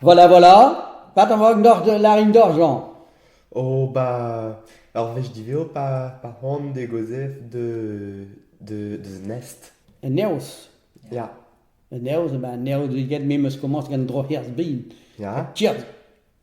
Voilà, voilà, pas d'an vag doc'h larin doc'h, Jean. Oh, bah, ur wech diveo pa, pa c'hoant d'e gozef de, de, deus un nest. Un neoz. Ya, Un neoz, ben, un neoz get me 'm eus komañs gant droc'hirzh bin. ya, Tiers.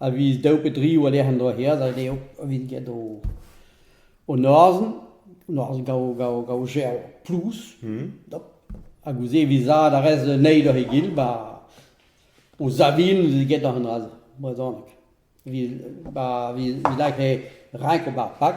a viz daou pe dri war-lerc'h en doa he azañ dezho evit get o o noazh, noazh gaou gaou gaou jerv plouz dop hag ouzh se e vizaat a rez anezhi doc'h egil ba o savin eus getañ an dra-se brezhoneg evit ba evit lakaat renk ober pak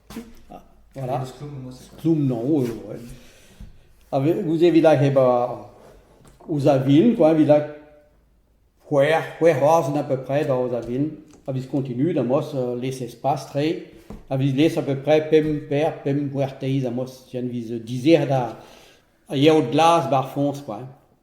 Voilà. Kloum-noñ eo. A vez- gouze evit hag hep a- ouzh a vil, quoi, evit hag c'hwec'h, c'hwec'h oaz on a peu près da ouzh a vil, a viz continuet amos, euh, les espaces tre, a viz les à peu près pemp per, pemp gwerteiz amos, jen viz dizer da a yeo glas ba'r foñs, quoi.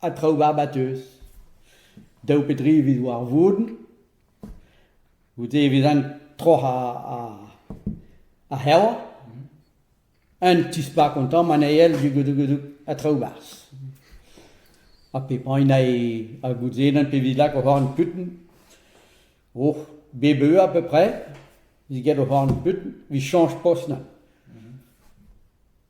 ha traoù barbateus. Daou pe dri evit war vourn. Goude e vezan troc'h ar c'herva. Un tispak an tamm anezhel dugodogodoug ha traoù barzh. Ha pepagn a gouzenan pe evit lak o c'horn putn. Oh, bep eur à peu près, evit get o c'horn putn, evit chañch post na.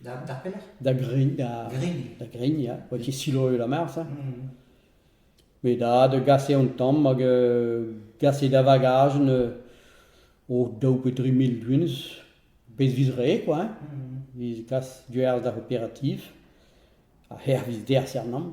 Da, d'ar pelec'h Da Gregn, da, Gregn. da Gregn, ya. Oa ket siloet la mar, ça. Mhm. Met da, da gaset an tamm hag euh, gaset da vagajen euh, o daou pe dri mil buhez. Bez viz re, quoi. hein. Mhm. Viz gas duerz d'ar operativ. Ha her viz derz er nam.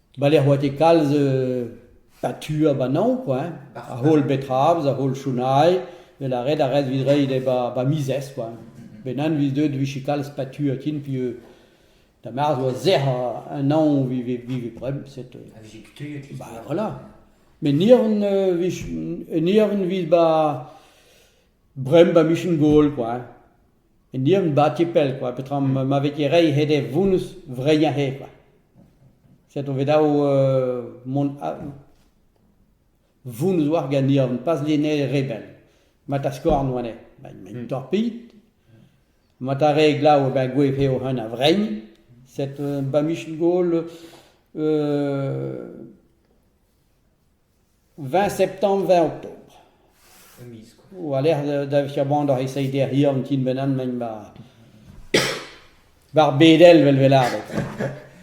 Bale a oa ket kalz euh pa tu a bananv kwa hein, a-heul bet Rabz, a-heul Chounail, 'vel a ret a ret 'vit reiñ d'he ba ba mizez kwa hein. Bennak 'vit deuet 'vije kalz pa tu ha ken pi euh da marz 'oa sec'h a- un anv 'vit vit vit bremañ set euh A vije kutuilhet just. bah voilà. Met niavn euh vije un niavn 'vit ba bremañ ba michen gol kwa hein. En dieub ba' ti pell kwa, petra ma ma vez ket reiñ hed e vounnus vreinañ eo kwa. Set on bet dav mont a- vounnus oar ganeomp, pas lienel rebel. Ma ta skorn oa anezhe, ma ma torpilh. Ma ta re glav e ben gouez eo heunañ vrein. Set ba' michel-gaol Vingt septembre, vingt octobre. E miz koa. War-lerc'h da vije c'hoant da reiñ d'erri an ti-benn-man-mañ war... war bedel 'vel 'vez lâret.